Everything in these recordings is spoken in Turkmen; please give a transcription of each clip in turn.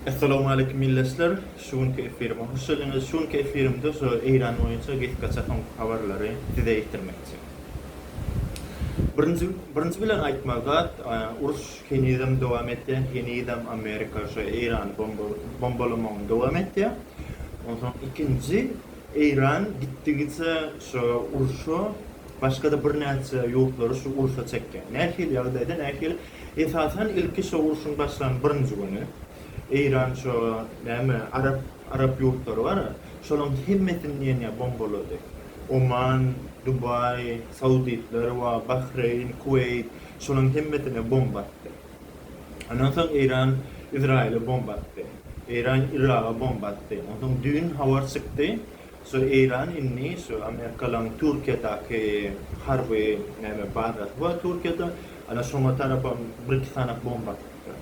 Essalowmaleýkim ildeşler! Şu günki efirime hoş geldiňiz. Şu günki efirimde şu Eýran boýunça gysgaça soňky habarlary size ýetirmekçi. Birinji birinji bilen aýtmaly zat, uruş henizem dowam etýär, henizem Amerika şu Eýrany bomba bombalamagyny dowam etýär. Onsoň ikinji Eýran gitdigiçe şu urşa başga-da birnäçe ýurtlary şu urşa çekýär. Nähili ýagdaýda, nähili Esasan ilki şo urşuň başlan birinji güni Eýran şo näme arap arap ýurtlary bar şolaň hemmesini diýenýä bombalady. Oman, Dubaý, Sauditler wa Bahreýn, Kuweýt şolaň hemmesine bomba atdy. Ondan soň Eýran Izraýyla bomba atdy. Eýran Yraga bomba atdy. Onsoň düýn habar çykdy Şo Eýran indi şo Amerikalyň Türkiýedäki harby näme bazasy bar Türkiýede. Ana şoňa tarapam bir-iki sany bomba atypdyr.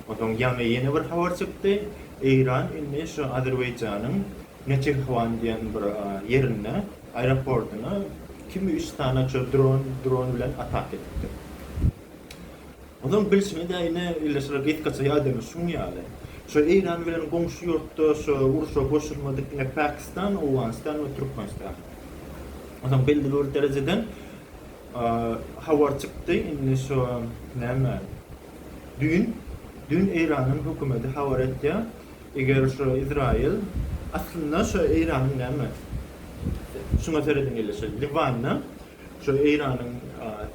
Onsoň ýaňy ýene bir habar çykdy. Eýran indi şo Azerbaýjanyň Neçirhwan diýen bir ýerinde aeroportyna ikimi üç sany şo dron dron bilen ataka edipdir. Onuň bilşine däl ine ille şular getgaça ýagdaýymyz şuň ýaly. Şo Eýran bilen goňşy ýurtda şo urşa goşulmadyk ine Pakistan, Owganystan we Türkmenistan. Onsoň belli bir derejeden habar çykdy indi şo näme düýn düýn Eýranyň hökümedi habar etýär eger şo Izraýyl aslynda şo Eýranyň näme şuňa serediň ille şo Liwanda Şu Eýranyň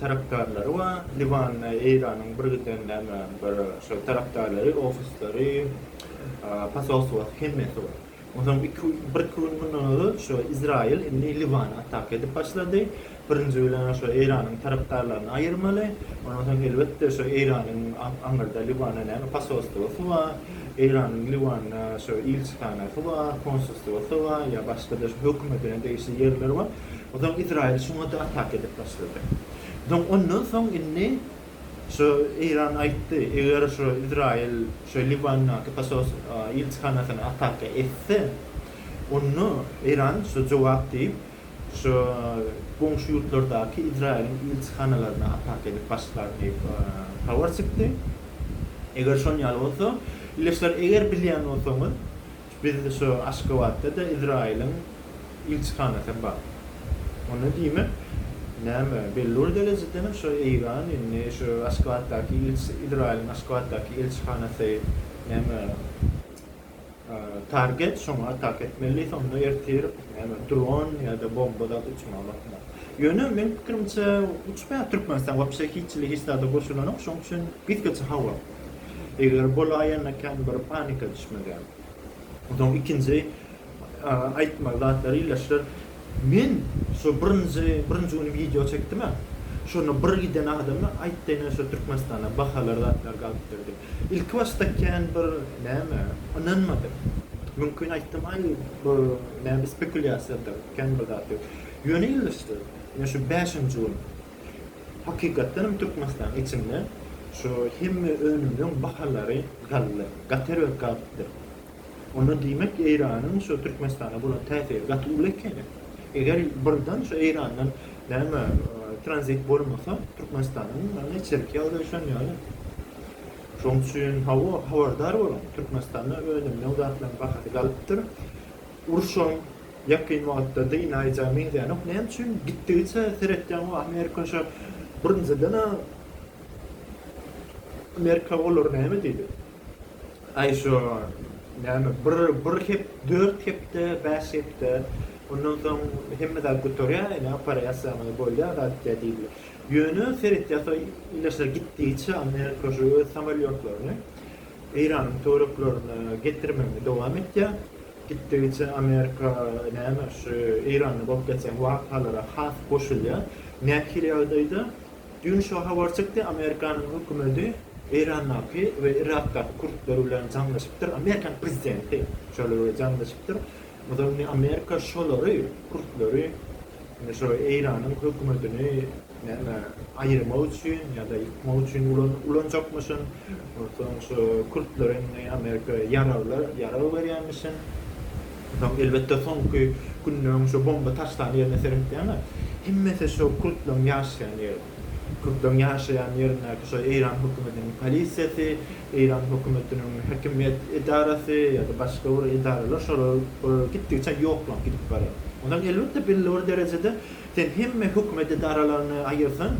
tarapdarlary we Liwanda Eýranyň birgiden näme bir şol tarapdarlary, ofisleri, posolstwosy hemmesi bar. Onsoň iki bir iki gün mundan ozal şu Izraýyl indi Liwana ataka edip başlady. Birinji bilen şu Eýranyň tarapdarlaryny aýyrmaly. Ondan soň elbetde şu Eýranyň aňyrda Liwanda näme posolstwosy bar, Eýranyň Liwanda şu ilçihanasy bar, konsulstwosy bar ýa başga-da şu hökümetine degişli ýerleri bar. Onsoň Izraýyl şuňa-da ataka edip başlady. Onsoň ondan soň indi şu Eýran aýtdy, eger şu Izraýyl şu Liwandaky posos ilçihanasyna ataka etse, onda Eýran şu jogap diýip, şu goňşy ýurtlardaky Izraýylyň ilçihanalaryna ataka edip başlar diýip habar çykdy. Eger şon ýaly bolsa, ildeşler, eger bilýän bolsaňyz, Biziň şu Aşgabatda-da Izraýylyň ilçihanasy bar. Onda diýmek, näme, bellur derejedenem şu Eýran indi şu Aşgabatdaky ilçi, Izraýylyň Aşgabatdaky ilçihanasy, näme, target, şoňa atak etmeli, sonda ertir, näme, dron ýa-da bomba zat uçmaga bakmaly. Ýöne, meniň pikirimçe, uçmaýar Türkmenistan wapşe hiç hili hiç zada goşulanok, şoň üçin gitgiçe hawa. Eger bolaýanda kän bir panika düşmegem. Onsoň ikinji aýtmaly zatlary ildeşler men şu birinji birinji güni wideo çekdimä şonda bir giden adamy aýtdyny şu Türkmenistanda bahalar zatlar galypdyr diýip. Ilki başda kän bir näme ynanmadym. Mümkin aýtdym aý bu näme spekulýasiýadyr kän bir zat diýip. Ýöne ildeşler men şu bäşinji gün. Hakykatdan hem Türkmenistanyň içinde şu hemme önümleň bahalary galla gaty erbet galypdyr. Onda diýmek Eýranyň şu Türkmenistana bolan täsiri gaty uly ekeni. Eger birden şu Eýrandan näme tranzit bolmasa Türkmenistanyň ýagny içerki ýagdaýy şon ýaly. Şoň üçin hawa habardar boluň Türkmenistanda önümleň zatlaryň bahasy galypdyr. Urşuň ýakyn wagtda dynaýjagy meňzänok. Näme üçin? Gitdigiçe seretýän bu Amerika şa birinjiden a Amerika olar näme diýdi? Aý şo näme bir bir hep dört hepde bäş hepde ondan soň hemme zat gutarýar ene operasiýaňyz bolýar zat diýýär diýdiler. Ýöne seretýär so ile şa gitdigiçe Amerika şo öz samolýotlaryny Eýranyň töwereklerine getirmegini dowam etýär. Gitdigiçe Amerika näme şu Eýranda bolup geçýän wakalara has goşulýar. Nähili ýagdaýda? Düýn şo habar çykdy, Amerikanyň hökümeti Eýrandaky we Yrakdaky kürtler bilen jaňlaşypdyr, Amerikanyň prezidenti şolar bilen jaňlaşypdyr. O zaman indi Amerika şolary, kürtleri, indi şo Eýranyň hökümetini, Näme, aýyrmak üçin ýa-da ýykmak üçin ulanjakmyşyn? Onsoň şu kürtler indi Amerika ýaraglar, ýarag berýänmişin. Onsoň elbetde soňky günleriň şu bomba taşlan ýerine seretýäňä, hemmesi şu kürtleriň ýaşaýan ýeri. Kürtleriň ýaşaýan ýerindäki şu Eýran hökümetiniň polisiýasy, Eýran hökümetiniň häkimiýet edarasy ýa-da başga bir edaralar şolar gitdigiçe ýoklanyp gidip barýar. Onsoň elbetde belli bir derejede Sen hemme hökümet edaralaryny aýyrsaň,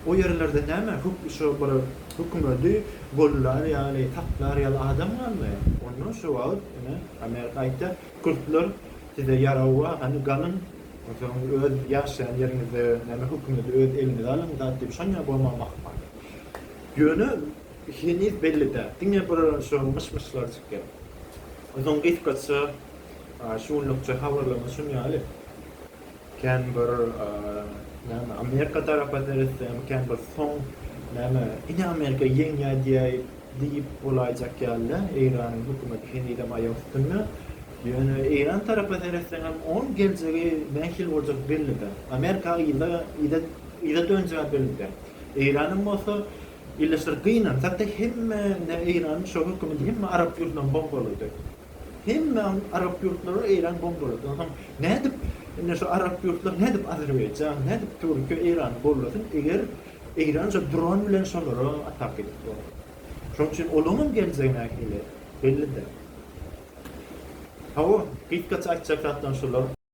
o ýerlerde näme, şo bir hökümedi gollar ýaly, saklar ýaly adam galmaýar. Onda şo wagt, ine, Amerika aýtýar, Kürtler size ýarag bar, hany galyň, onsoň öz ýaşaýan ýeriňizi, näme, hökümedi öz eliňize alyň zat diýip, şonýa bolmagyna ahmal. Ýöne heniz belli däl. Diňe bir şo myş-myşlar çykýar. Onsoň gysgaça, şu günlükçe habarlarymyz şuny ýaly. Kän bir näme Amerika tarapa seretseň kän bir soň näme ine Amerika ýeňýä diýäýip diýip bolaýjak ýaly däl Eýranyň hökümeti henizem aýak üstünde ýöne Eýran tarapa seretseňem oň geljegi nähili boljak belli däl Amerika yza yza yza dönjäni belli däl Eýranam bolsa ýyllyşdyr gynansak-da hemme ne Eýranyň şo hökümeti hemme arap ýurdunam bombalady. Hemmäň arap ýurtlary Eýran bombaladan soň nädip indi şu arap ýurtlary nädip Azerbaýjan nädip Türkiýe Eýrany gollasyn eger Eýran şu dron bilen şolara atak edip bolsa. Şonuň üçin olaň hem geljegi nähili belli däl. Hawa gitgaça aýtjak zatlaryň şular.